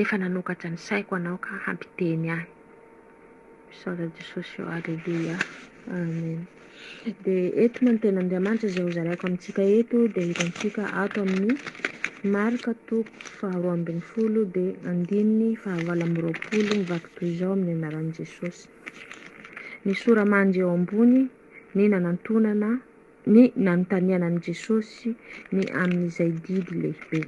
Efa nanokatra ny saiko anao ka hampiteny ahy. Misaotra Jesosy ô, Aleloia, Amen. Dia eto moa ny tenin'Andriamanitra izay hozaraiko amintsika eto dia hitantsika ato amin'ny Marka toko faharoa ambin'ny folo dia andininy fahavalo amby roapolo mivaky toy izao amin'ny anaran'i Jesosy. Ny sora-mandry eo ambony ny nanantonana ny nanontaniana an'i Jesosy ny amin'izay didy lehibe.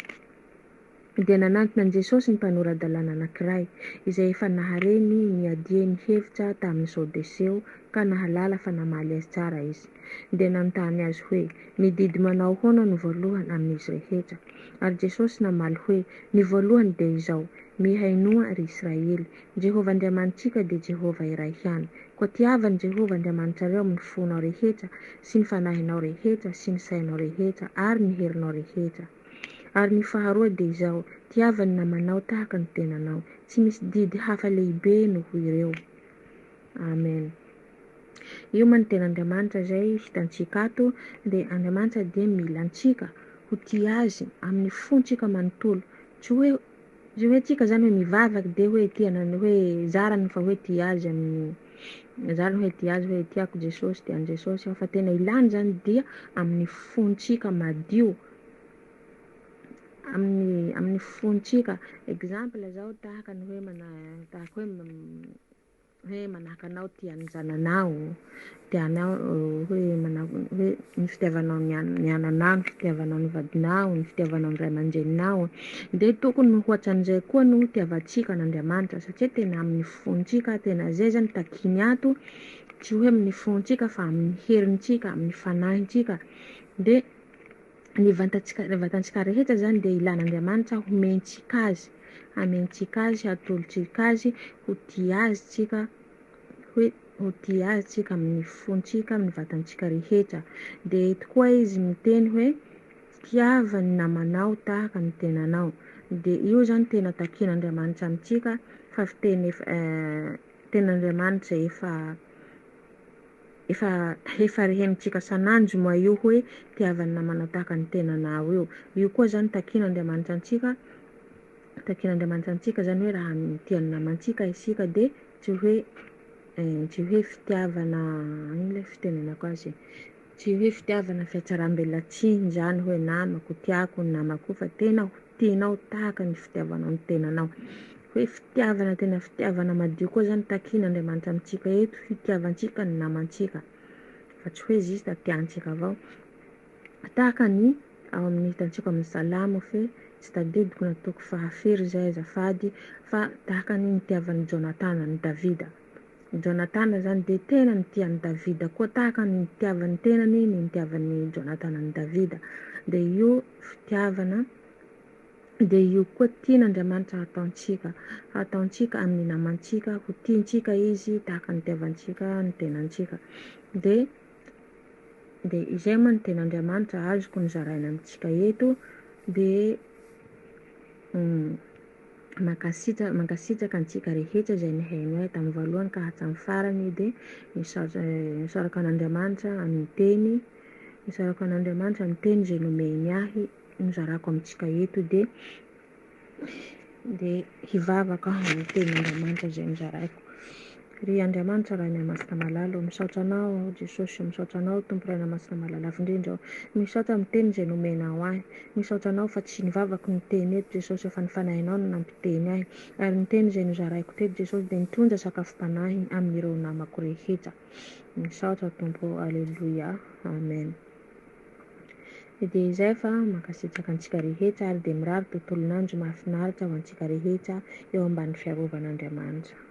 Dia nanantona an'i Jesosy ny mpanora-dalàna anankiray, izay efa nahare ny niadiany ny hevitra tamin'ny Sadoseo ka nahalala fa namaly azy tsara izy. Dia nanontany azy hoe, Ny didy manao ahoana no voalohany amin'izy rehetra? Ary Jesosy namaly hoe, Ny voalohany dia izao, Mihainoa, ry Israely. Jehovah Andriamanitsika dia Jehovah iray ihany. Koa tiavo an'i Jehovah Andriamanitrareo amin'ny fonao rehetra, sy ny fanahinao rehetra, sy ny sainao rehetra, ary ny herinao rehetra. Ary ny faharoa dia izao, tiava ny namanao tahaka ny tenanao. Tsy misy didy hafa lehibe noho ireo. Amen. Io man tena Andriamanitra izay hitantsika ato, dia Andriamanitra dia mila antsika ho tia Azy amin'ny fontsika manontolo, tsy hoe. Zay hoe tsika zany hoe mivavaka de hoe tia anao hoe zarany fa hoe tia azy amin'ny zarany hoe tia azy hoe tiako Jesosy de an'i Jesosy aho fa tena ilany zany dia amin'ny fontsika madio amin'ny amin'ny fontsika exemple zao tahaka ny hoe mana tahaka hoe hoe manahaka anao tia ny zananao, tia anao hoe manahaka hoe ny fitiavanao ny an- ny ananao, ny fitiavanao ny vadinao, ny fitiavanao ny ray aman-dreninao. Dia tokony ho hoatran'izay koa no hitiavantsika an'Andriamanitra satria tena amin'ny fontsika, tena zay zany takiny ato, tsy hoe amin'ny fontsika fa amin'ny herintsika, amin'ny fanahintsika. Dia ny vantantsika, ny vatantsika rehetra zany dia ilan'Andriamanitra homentsika azy, hamentsika azy, hatolotsika azy, ho tia azy tsika, hoe ho tia azy tsika amin'ny fontsika, amin'ny vatantsika rehetra. Dia eto koa izy miteny hoe fitiava ny namanao tahaka ny tenanao. Dia io zany tena takin'Andriamanitra amintsika fa fiteny efa eh, tenin'Andriamanitra efa Efa efa rehenintsika sananjo moa io hoe tiavan'ny namana tahaka ny tenanao io. Io koa zany takian'Andriamanitra antsika takian'Andriamanitra antsika zany hoe raha mitia ny namantsika isika dia tsy hoe tsy hoe fitiavana ino le fitenenako azy tsy hoe fitiavana fihatsaram-belatsihy zany hoe namako tiako ny namako fa tena ho tianao tahaka ny fitiavanao ny tenanao. Hoe fitiavana tena fitiavana madio koa zany takin'Andriamanitra amintsika eto, hitiavantsika ny namantsika fa tsy hoe juste tiantsika avao. Tahaka ny ao amin'ny hitantsika amin'ny salamo fe tsy tadidiko na toko faha firy zay azafady fa tahaka ny nitiavan'i Jonatana an'i Davida. I Jonatana izany dia tena nitia an'i Davida koa tahaka ny nitiavan'ny tenany ny nitiavan'i Jonatana an'i Davida. Dia io fitiavana dia io koa tian'Andriamanitra hataontsika. Hataontsika amin'ny namantsika ho tiantsika Izy tahaka ny nitiavantsika ny tenantsika. Dia dia izay moa ny ten'Andriamanitra azoko nozaraina amintsika eto dia Mankasitra mankasitraka antsika rehetra izay nihaino ahy tamin'ny voalohany ka hatramin'ny farany dia misaotra misaoraka an'Andriamanitra amin'ny teny misaorako an'Andriamanitra amin'ny teny izay nomeny ahy nozarako amintsika eto dia dia hivavaka amin'ny tenin'Andriamanitra izay nozaraiko. Ry Andriamanitra Rainiamasina malala ô, misaotra Anao aho Jesosy, misaotra Anao Tompo Rainamasina malala lavo indrindra ô, misaotra miteny izay nomenao ahy, misaotra Anao fa tsy ny vavako no niteny eto Jesosy ô fa ny Fanahinao no nampiteny ahy, ary ny teny izay nozaraiko teto Jesosy dia nitondra sakafom-panahy amin'ireo namako rehetra, misaotra Tompo ô, Aleloia, Amen. Dia izay fa mankasitraka antsika rehetra ary dia mirary tontolon'andro mahafinaritra ho antsika rehetra eo ambany fiarovan'Andriamanitra.